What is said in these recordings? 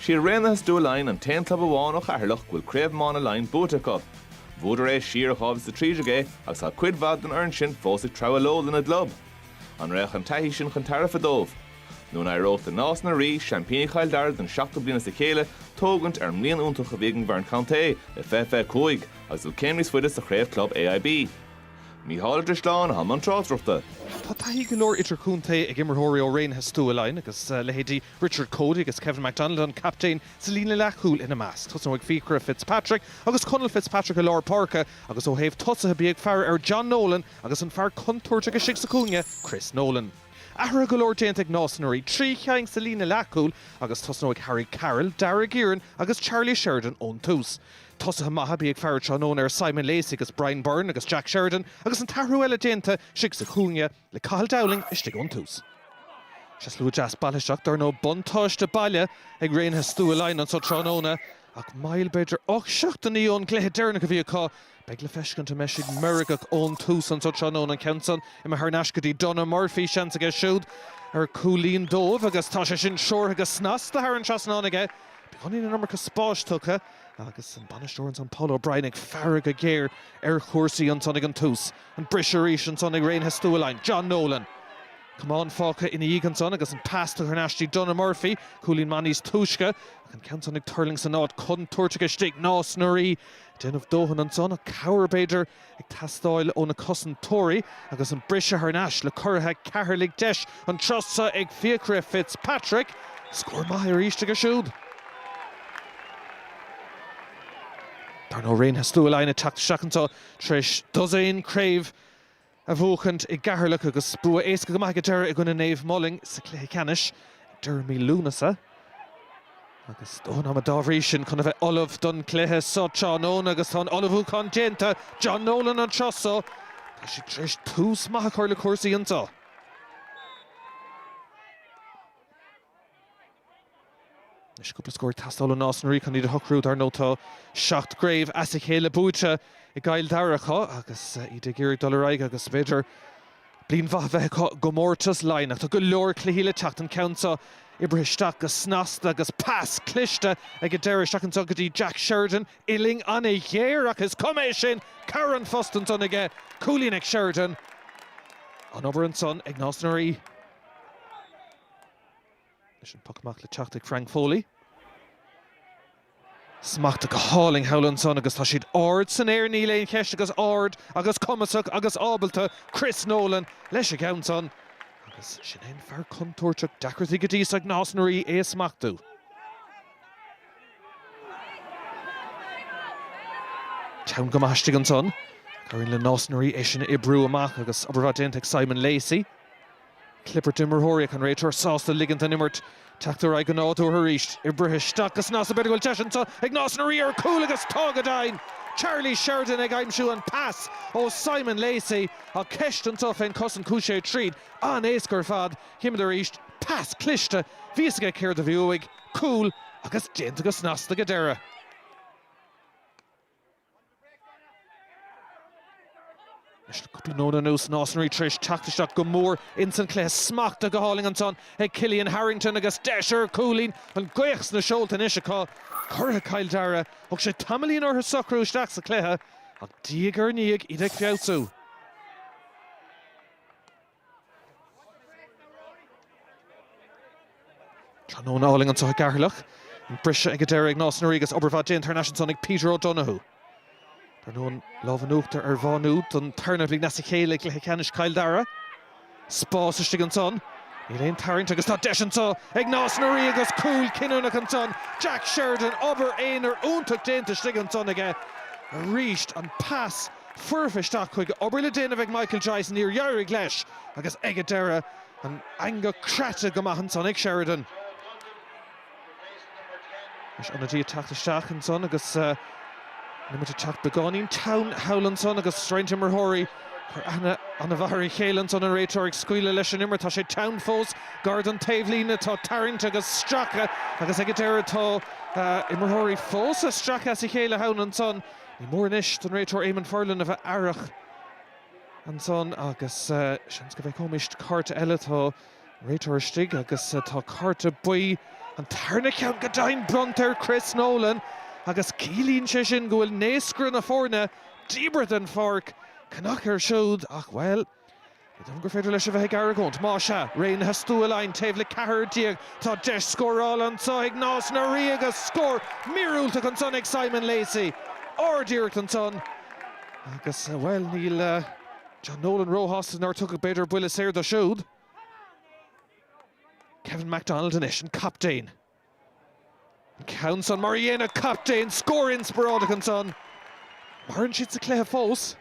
Is iad Raonaithe Stua Laighean an t-aon club amháin ó Cheatharlach go bhfuil Craobh Iomána Laighin buaite acu. Bhuadar é siar i 2013 é agus tá cuid mhaith den fhoireann sin fós ag treabhadh leo lena gclub. An raghadh an taithí sin chun tairbhe dóibh? Nó an éireodh do Nás na Rí, seaimpíní Chill Dara don seachtú bliain as a chéile, tógaint ar an mbliain iontach a bhí ag an bhfoireann contae i 2025 agus dul céim níos faide sa chraobh club AIB? Mícheál Ó Drisleáin atá i mbun tráchtaireachta. Tá taithí go leor idirchontae ag imreoirí ó Raonaithe Stua Laighean agus leithéidí Richard Coady agus Kevin McDonald, an captaen, sa líne leathchúil ina measc. Tosnóidh Fiachra Fitzpatrick agus Conall Fitzpatrick i lár páirce agus ó thaobh tosaithe bí ag faire ar John Nolan agus an fear contúirteach istigh sa chúinne, Chris Nolan. Athruithe go leor déanta ag Nás na Rí, trí cheann sa líne leathchúil agus tosnóidh Harry Carroll, Daire Guerin agus Charlie Sheridan ón tús. Tosaithe maithe bí ag faire tráthnóna ar Simon Leacy agus Brian Byrne agus Jack Sheridan agus an t-athrú eile déanta istigh sa chúinne le Cathal Dowling istigh ón tús. Sea, slua deas bailithe isteach dar ndóigh, buntáiste baile ag Raonaithe Stua Laighean anseo tráthnóna ach moill b'fhéidir ocht seachtainí ón gcluiche deireanach a bhí acu, beidh le feiscint an mbeidh siad meirgeach ón tús anseo tráthnóna. An ceann san imithe thar n-ais go dtí Donagh Murphy, seans aige siúd ar cúilín dóibh agus tá sé sin seolta go snasta thar an trasnán aige, beagáinín an iomarca spáis tugtha. agus an bainisteoir ansan Paul O'Brien ag faire go géar ar chúrsaí ansan ag an tús. An briseadh arís ansan ag Raonaithe Stua Laighean, John Nolan. Camán fágtha ina dhiaidh ansan agus an pas tugtha thar n-ais go dtí Donagh Murphy, cúilín maith níos túisce, ach an ceann san ag tuirlingt san áit contúirteach istigh. Nás na Rí ag déanamh dóthain ansan, ach cabhair b'fhéidir. ag teastáil ó na cosantóirí agus an briseadh thar n-ais le curaithe Ceatharlaigh deis an tráth seo ag Fiachra Fitzpatrick scór maith arís aige siúd. Dar ndóigh Raonaithe Stua Laighean ag teacht isteach anseo tar éis dosaen craobh a bhuachaint i gCeatharlach agus bua éasca go maith ag an deireadh i gcoinne Naomh Moling sa cluiche ceannais ag deireadh mí Lúnasa. Agus dóthain ama dá bhrí sin chun a bheith ullamh don chluiche so tráthnóna agus tá an ullmhúchán déanta John Nolan an tráth so, tá siad tar éis tús maith a chur le cúrsaí anseo. Anois cúpla scór ag teastáil ó Nás na Ríogh chun iad a shocrú. Dar ndóigh tá seacht gcraobh as a chéile buaite i gCill Dara acu agus iad ag iarraidh dul ar aghaidh agus b'fhéidir, Bliain mhaith a bheith acu i gcomórtas Laighean ach tá go leor cluichí le teacht an ceann seo. Oibrithe isteach go snasta agus pas cliste ag an deireadh isteach anseo go dtí Jack Sheridan. Uillinn an-ghéar ach is cuma é sin, cabhair an phost ansan aige. Cúilín ag Sheridan. An-obair ansan ag Nás na Rí. Leis an puc amach le teacht ag Frank Foley. Smachta go hálainn thall ansan agus tá siad ard san aer, níl aon cheist, agus ard agus cumasach agus ábalta Chris Nolan leis a gceann san agus sin é an fear contúirteach, deacrachtaí go dtí so ag Nás na Rí é a smachtú. Teann go maith istigh ansan, ach éiríonn le Nás na Rí é sin a oibriú amach agus obair mhaith déanta ag Simon Lacey. Clibirt imreoirí ach an réiteoir sásta ligint don imirt teacht ar aghaidh go nádúrtha arís. Oibrithe isteach go snasta, b'fhéidir go bhfuil deis anseo ag Nás na Ríogh ar chúl agus tá go deimhin! Charlie Sheridan ag aimsiú an pas ó Simon Lacey ach ceist anseo fén cosaint chuaigh sé tríd an-éasca ar fad. Chímid arís pas cliste, bhí fhios aige céard a bhí uaidh. Cúl agus déanta go snasta go deireadh. Leis le cúpla nóiméad anuas Nás na Ríogh tar éis teacht isteach go mór ins an chluiche, smachta go hálainn ansan ag Cillian Harrington agus deis ar chúilín. An gaoth sna seolta anois acu, curaidh Chill Dara. Thóg sé tamaillín orthu socrú isteach sa chluiche, ach diaidh ar ndiaidh iad ag feabhsú. Tráthnóna álainn anseo i gCeatharlach. An briseadh ag an deireadh ag Nás na Ríogh agus obair mhaith déanta thar n-ais ansan ag Peter O'Donoghue. Dar ndóigh an lámh in uachtar ar Mhá Nuad don tarna bhliain as a chéile i gcluiche ceannais Chill Dara. Spás istigh ansan. Níl aon tarraingt agus tá deis anseo ag Nás na Ríogh agus cúl cinniúnach ansan. Jack Sheridan, obair aonair iontach déanta istigh ansan aige arís. An pas. foirfe isteach chuige. Obair le déanamh ag Michael Joyce, níor éirigh leis agus ag an deireadh an eangach craite go maith ansan ag Sheridan. Anois ionaidí ag teacht isteach ansan agus an imirt ag teacht beagáinín teann thall ansan agus roinnt imreoirí ag cur aithne ana mhaith ar a chéile ansan. An réiteoir ag scaoileadh leis an imirt, tá sé teann fós, gar don taobhlíne, tá tarraingt agus stracadh agus ag an deireadh tá imreoirí fós a stracadh as a chéile thall ansan. Ní mór anois don réiteoir Eamonn Furlong a bheith aireach ansan agus seans go bhfeicfimist cárta eile. Tá an réiteoir istigh agus tá cárta buí, an tarna ceann go deimhin, bronnta ar Chris Nolan agus ciallaíonn sé sin go bhfuil naoscaire na foirne díbeartha den pháirc. Cnag air siúd ach, bhuel, Cé dom gur féidir leis a bheith ag argóint? Má sea, Raonaithe Stua Laighean taobh le ceathrar déag, tá deis scórála anseo ag Nás na Ríogh agus scór míorúilteach ansan ag Simon Lacey. Ardiarracht ansan agus, bhuel, níl John Nolan róshásta nár tugadh b'fhéidir buille saor dó siúd. Kevin McDonald anois, an captaen. Ceann san mar a dhéanadh captaen scór inspioráideach ansan, maireann siad sa chluiche fós.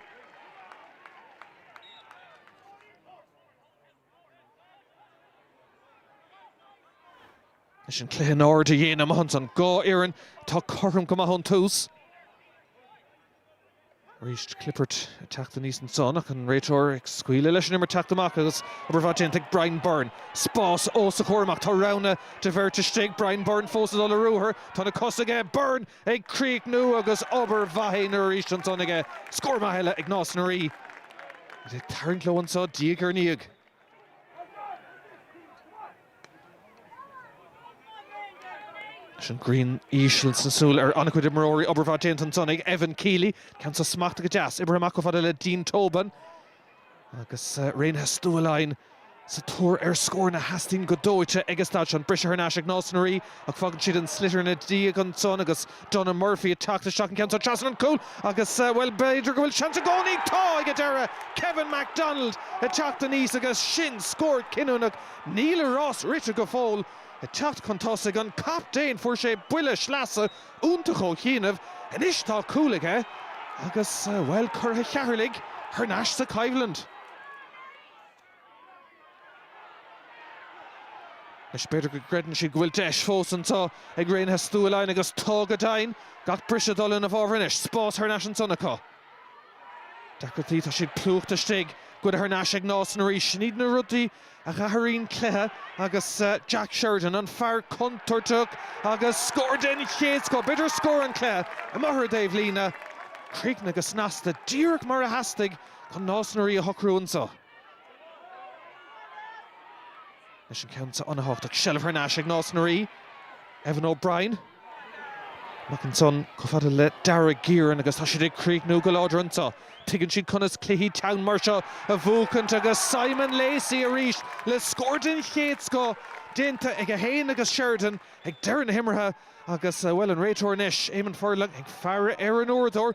Leis an cluiche in airde a dhéanamh amach ansan, dhá fhoireann atá cothrom go maith ón tús. Arís Clifford ag teacht aníos ansan ach an réiteoir ag scaoileadh leis an imirt teacht amach agus obair mhaith déanta ag Brian Byrne. Spás os a chomhair amach. Tá roghanna de bheirt istigh. Brian Byrne fós ag dul i ruathar. Tá na cosa aige. Byrne ag críochnú agus obair mhaith aonair arís ansan aige. Scór maith eile ag Nás na Rí. Iad ag tarraingt leo anso diaidh ar ndiaidh. Leis an grian íseal sna súile ar an-chuid imreoirí, obair mhaith déanta ansan ag Evan Kealy. Ceann seo smachta go deas, oibrithe amach chomh fada le Dean Tobin agus Raonaithe Stua Laighean sa tóir ar scóranna a theastaíonn go dóite ag an staid sin. Briseadh thar n-ais ag Nás na Rí ach fágann siad an sliotar ina ndiaidh ansan agus. Donagh Murphy ag teacht isteach an ceann seo trasna an chúl agus, bhuel, b'fhéidir go bhfuil seans i gcónaí acu. Tá ag an deireadh! Kevin McDonald ag teacht aníos agus sin scór cinniúnach. Níl a rás rite go fóill. Ag teacht chun tosaigh, an captaen, fuair sé buille sleasa iontach ó chianaibh. Anois tá cúl aige agus, bhuel, curaithe Cheatharlaigh thar n-ais sa choimhlint. Anois b'fhéidir go gcreideann siad go bhfuil deis fós anseo ag Raonaithe Stua Laighean agus tá go deimhin! Gach briseadh ag dul ina bhfábhar anois, spás thar n-ais ansan acu. Deacrachtaí, tá siad plúchta istigh. Goidte thar n-ais ag Nás na Rí. Sin iad na rudaí a dh'athraíonn cluiche agus Jack Sheridan, an fear contúirteach agus scór den chéad scoth, b'fhéidir scór an chluiche, amuigh ar an dtaobhlíne. Críochnaithe go snasta, díreach mar a theastaigh chun Nás na Rí a shocrú anseo. Anois an ceann so ana-thábhachtach, seilbh thar n-ais ag Nás na Rí, Evan O'Brien. Amach ansan chomh fada le Darragh Guerin agus tá siad ag críochnú go láidir anseo. Tuigeann siad conas cluichí teann mar seo a bhuachaint agus Simon Leacy arís le scór den chéad scoth déanta aige féin agus Sheridan ag deireadh na himeartha agus, bhuel, an réiteoir anois, Éamonn Furlong ag faire ar an uaireadóir.